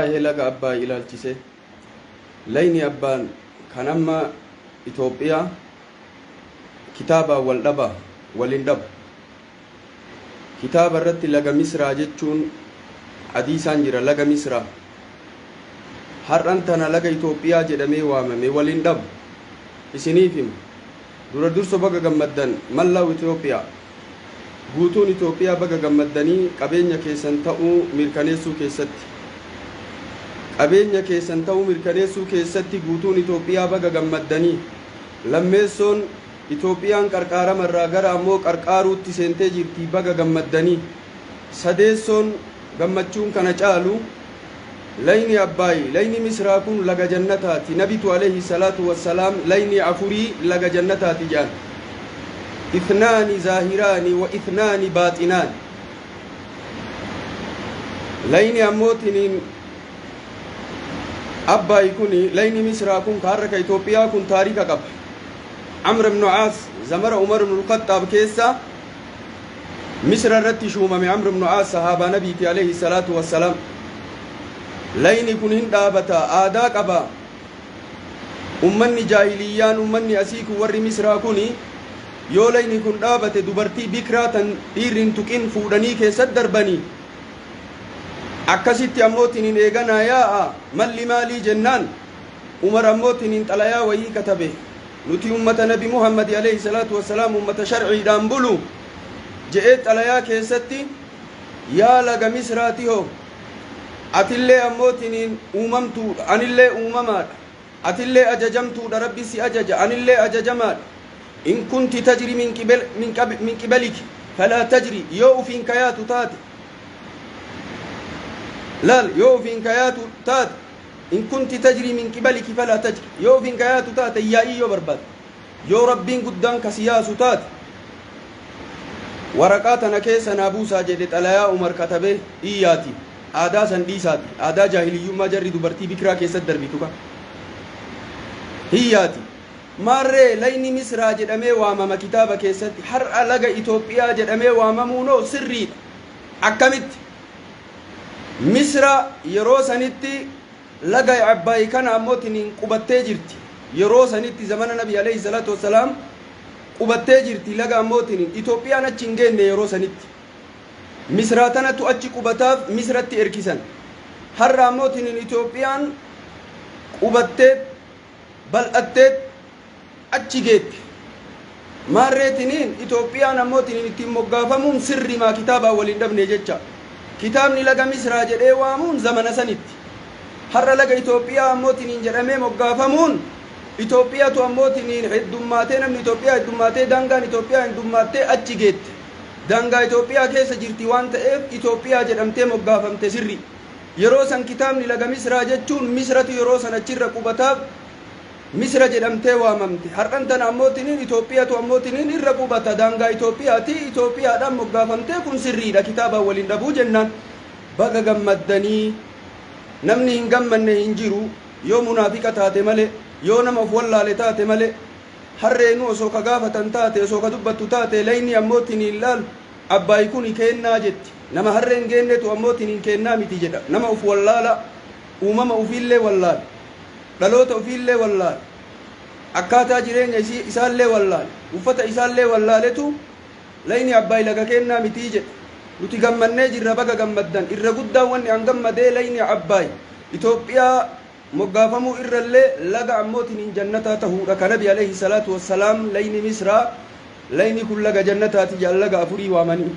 Waa'ee laga Abbaay ilaalchisee, Lagni Abbaan kan amma Itoophiyaa kitaabaan wal dhaba, wal hin dhabu. Kitaaba irratti laga Misraa jechuun hadiisaan jira, laga Misraa. Har'an tana laga Itoophiyaa jedhamee waamame, wal hin dhabu. Isiniif hima. Dura dursa baga gammaddan, Mallaw Ethiopia. Guutuun Itoophiyaa baga gammaddanii qabeenya keessan ta'uu mirkaneessuu keessatti Qabeenya keessan ta'uu mirkaneessuu keessatti Guutuun Itoophiyaa baga gammaddanii Lammeessoon Itoophiyaan qarqaarama irraa gara ammoo qarqaaruutti seentee jirti baga gammaddanii Sadeessoon gammachuun kana caalu Lagni Abbaay, lagni Misraa kun laga jannataati. Nabitu aleyhi salaatu wa salaam lagni afurii laga jannataati jedhan. Ithnaani zaahiraani wa ithnaani baaxinaani. Lagni ammootiniin Abbaay kun lagni Misraa kun ka har'a ka Itoophiyaa kun taarika qaba. Amr ibn Aas zamara Umar ibn al-Khaxxaab keessa Misra irratti shuumame Amr ibn Aas sahaabaa Nabiiti alayhi salaatu wassalaam. Layni kun hin dhaabata, aadaa qaba. Ummanni jaahiliyyaan ummanni asii kun warri Misraa kuni yoo layni kun dhaabate dubartii bikraa tan dhiirri hin tuqin fuudhanii keessatti darbanii akkasitti ammoo tinin eeganaa yaa'a malli maalii jennaan Umar ammoo tiniin xalayaa wayii katabe, Nuti ummata Nabi Muhammadi aleyh salaatu wa salaam ummata sharciidhaan bulu je'ee xalayaa keessatti Yaa laga Misraa tihoo! Atillee ammoo tiniin uumamtuudha, anillee uumamaadha. Atillee ajajamtuudha, Rabbi si ajaja, anillee ajajamaadha. In kunti tajri min qibel- min qab- min qibaliki falaa tajri yoo ufiin kayaatu taate laal yoo ufiin kayaatu taate In kunti tajrii min qibaliki falaa tajri. Yoo ofiin ka yaatu taate hin yaa'ii yoo barbaadde. Yoo Rabbiin guddaan ka si yaasu taate waraqaa tana keessa naa buusaa jedhe xalayaa Umar katabee iyyaati. Aadaa san dhiisaati. Aadaa jaahiliyyummaa jarri dubartii bikiraa keessatti darbitu ka. Hiyyaati. Maarree layni Misraa jedhamee waamama kitaaba keessatti. Har'a laga Itoophiyaa jedhamee waamamuunoo sirriidha. Akkamitti? Misra yeroo sanitti laga Abbaay kana ammoo tiniin qubattee jirti. Yeroo sanitti zamana Nabi alayhi salaatu wassalaam qubattee jirti laga ammoo tiniin. Itoophiyaan achi hin geenne yeroo sanitti. Misraa tanatu achi qubataaf Misratti erkisan. Har'a ammoo tiniin Itoophiyaan qubattee bal'atteet achi geette. Maarree tiniin Itoophiyaan ammoo tiniin ittiin moggaafamuun sirrimaa kitaabaan wal hin dhabne jecha. Kitaabni laga Misraa jedhee waamuun zamana sanitti. Har'a laga Itoophiyaa ammoo tiniin jedhamee moggaafamuun Itoophiyatu ammoo tiniin heddummaatee namni Itoophiyaa heddummaatee daangaan Itoophiyaa heddummaattee achi geette. Daangaa Itoophiyaa keessa jirti waan ta'eef Itoophiyaa jedhamtee moggaafamte sirri. Yeroo san kitaabni laga Misraa jechuun Misratu yeroo san achi irra qubataaf Misra jedhamtee waamamte. Har'an tana ammoo tiniin Itoophiyatu ammoo tiniin irra qubata daangaa Itoophiyaati. Itoophiyaadhaan moggaafamtee kun sirriidha kitaabaan wal hin dhabuu jennaan. Baga gammaddanii namni hin gammanne hin jiru yoo munaafiqa taate malee yoo nama of wallaale taate malee harreenuu osoo ka gaafatan taate osoo ka dubbattu taate laynii ammoo tiniin laal abbaay kuni keennaa jetti. Nama harree hin geennetu ammoo tiniin keennaa miti jedha. Nama uf wallaalaa, uumama ufiillee wallaale, dhaloota ufiillee wallaale, akkaataa jireenya isii isaallee wallaale, uffata isaallee wallaaletu Layni Abbaay laga keennaa mitii jedha. Nuti gammannee jirra baga gammaddan. Irra guddaan wanni an gammadee Layni Abbaay Itoophiyaa moggaafamuu irrallee laga ammoo tiniin jannataa tahuudha. Ka Nabi aleyhi salaatu wassalaam Layni Misraa Layni kun laga jannataati jedhan laga afurii waamanii.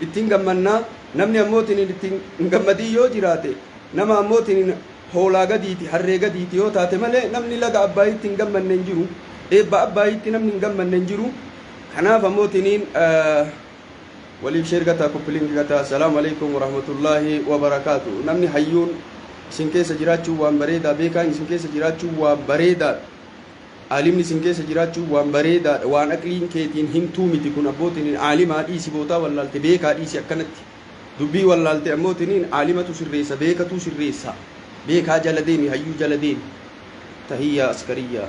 ittiin gammanna, namni ammoo tiniin ittiin hin gammadin yoo jiraate, nama ammoo tiniin hoolaa gadiiti, harree gadiiti yoo taate malee namni laga Abbaayitti hin gammanne hin jiru, eebba Abbaayitti namni hin gammanne hin jiru, kanaaf ammoo tiniin waliif sheer gataa koppiliinki gataa assalaamu alaikum warahmatullaahi wabarakaatu namni hayyuun isin keessa jiraachuu waan bareedaa beekaan isin keessa jiraachuu waan bareedaadha Aalimni isin keessa jiraachuun waan bareedaadha waan aqliin keetiin himtuu miti kun abboo tiniin aalimaa dhiisi bootaa wallaalte beekaa dhiisi akkanatti dubbii wallaalte ammoo tiniin aalimatu sirreessa beekatuu sirreessa beekaa jala deemi hayyuu jala deemi tahiyyaa askariyyaa.